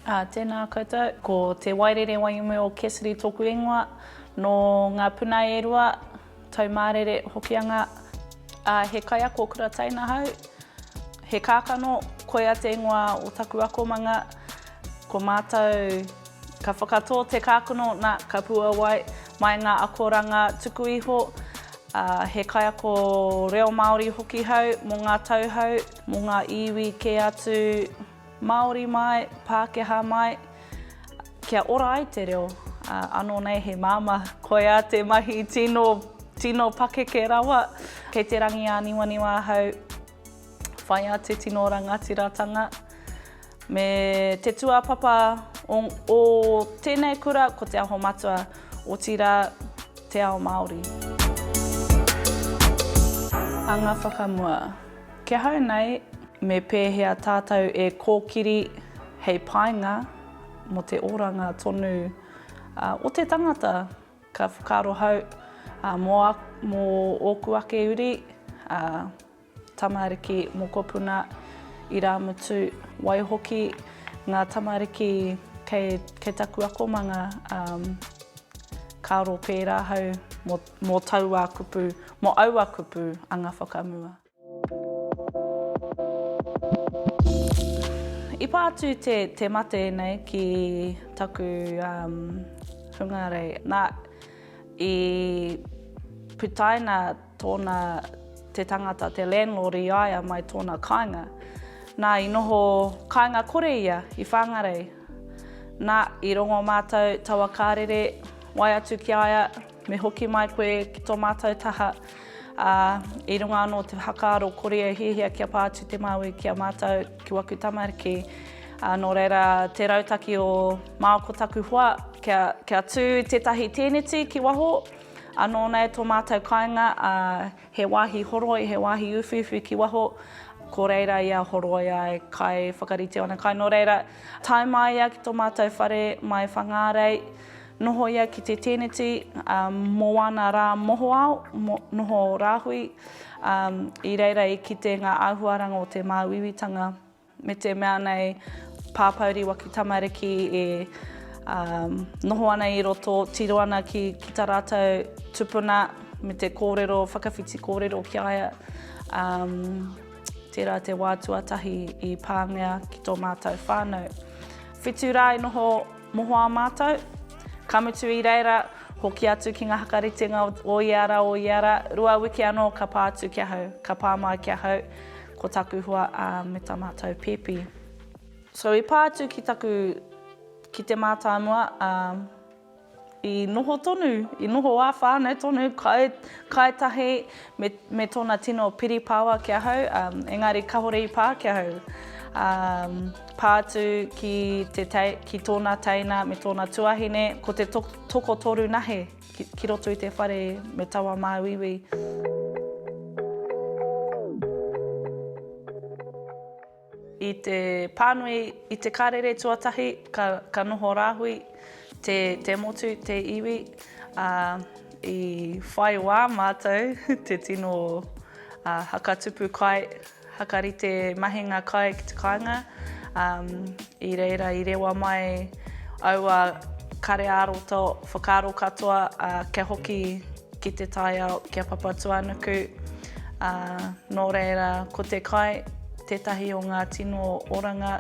Ā, tēnā koutou. Ko Te Wairere Waiumu o Cassidy tōku ingoa, nō ngā puna e rua, Taumārere, Hokianga. Ā, he kaiako kura tai nahau, he kākano, koia te ingoa o taku akomanga, ko mātou. Ka whakatō te kākano, nā, ka puāwai mai ngā akoranga tuku iho, ā, he kaiako reo Māori hoki hau mō ngā tauhou, mō ngā iwi kē atu, Māori mai, Pākehā mai, kia ora ai te reo, ā, anō nei he māmā, koiā te mahi tino, tino pakeke rawa. Kei te rangi āniwaniwa ahau. Whaiā te tino rangatiratanga me te tuapapa o, o tēnei kura ko Te Aho Matua, otirā Te Ao Māori. Anga whakamua. Kia hau nei, me pēhea tātou e kōkiri hei painga mō te oranga tonu o te tangata Ka whakaaro hau mō ōku ake uri, a tamariki mokopuna, irāmutu, waihoki ngā tamariki kei taku akomanga, ka aro pērā hau mō taua kupu, mō aua kupu anga whakamua. I pā atu te, te mate nei ki taku um, hungarei. Nā, i putaina tōna te tangata, te landlord i a ia mai tōna kāinga. Nā, i noho kāinga kore ia i Whāngarei. Nā, i rongo mātou taua kārere, wai atu ki a ia, Me hoki mai koe ki tō mātou taha, ā, i runga anō o te whakaaro kori e hiahia kia pā atu te Māui ki a mātou, ki waku tamariki. Ā, nō reira, te rautaki o Māo ko taku hoa, kia, kia tū tētahi tēneti ki waho, anō nei tō mātou kāinga, ā, he wāhi horoi, he wāhi uwhiuwhi ki waho, ko reira ia horoi ai, kai whakarite ana kai. Nō reira, tae māia ki tō mātou whare mai Whangārei, Noho ia ki te tēneti mō ana rā mohoao, noho rāhui i reira i kite ngā āhuaranga o te māuiuitanga me te mea nei pāpouri waki tamariki e noho ana i roto, tiro ana ki ta rātou tupuna me te kōrero, whakawhiti kōrero ki a ia. Tērā te wā tuatahi i pāngia ki tō mātou whānau. Whitu rā i noho. Mohoao mātou, ka mutu i reira, hoki atu ki ngā whakaritenga o ia rā, o ia rā, rua wiki anō ka pā atu ki ahau, ka pā mai ki ahau, ko taku hoa, ā, me tā mātou pēpi. So i pā atu ki taku, ki te mātāmua, ā, i noho tonu, i noho ā whānau tonu, kai, kai tahi, Me, me tōna tino piripaoa ki ahau, um, engari kahore i pā ki ahau. Um, pā atu ki, te te, ki tōna teina me tōna tuahine, ko te to, toko toru nahe ki, ki roto i te whare me tawa māuiui. Māuiui. I te pānui i te karere tuatahi ka ka noho rāhui te te motu te iwi ā i whai wā mātou te tino ā hakatupu kai hakarite mahinga kai ki te kāinga ā i reira i rewa mai aua kare ā-roto whakaaro katoa ā kia hoki ki te taiao ki a Papatūānuku, ā, nō reira ko te kai tētahi o ngā tino oranga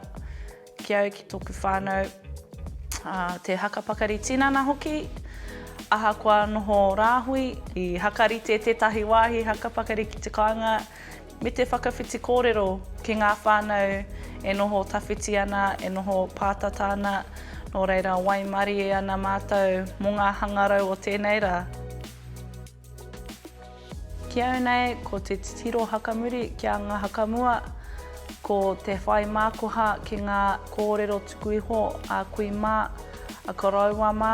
ki au ki tōku whānau, ā, te haka pakari tinana hoki, ahakoa noho rāhui. I hakarite tētahi wāhi haka pakari ki te kāinga me te whakawhiti kōrero ki ngā whānau e noho tawhiti ana, e noho pātata ana, nō reira waimarie ana mātou mō ngā hangarau o tēnei rā. Ki au nei, ko te titiro hakamuri ki a ngā hakamua, ko te whai mākoha ki ngā kōrero tuku iho a kui mā, a koroua mā,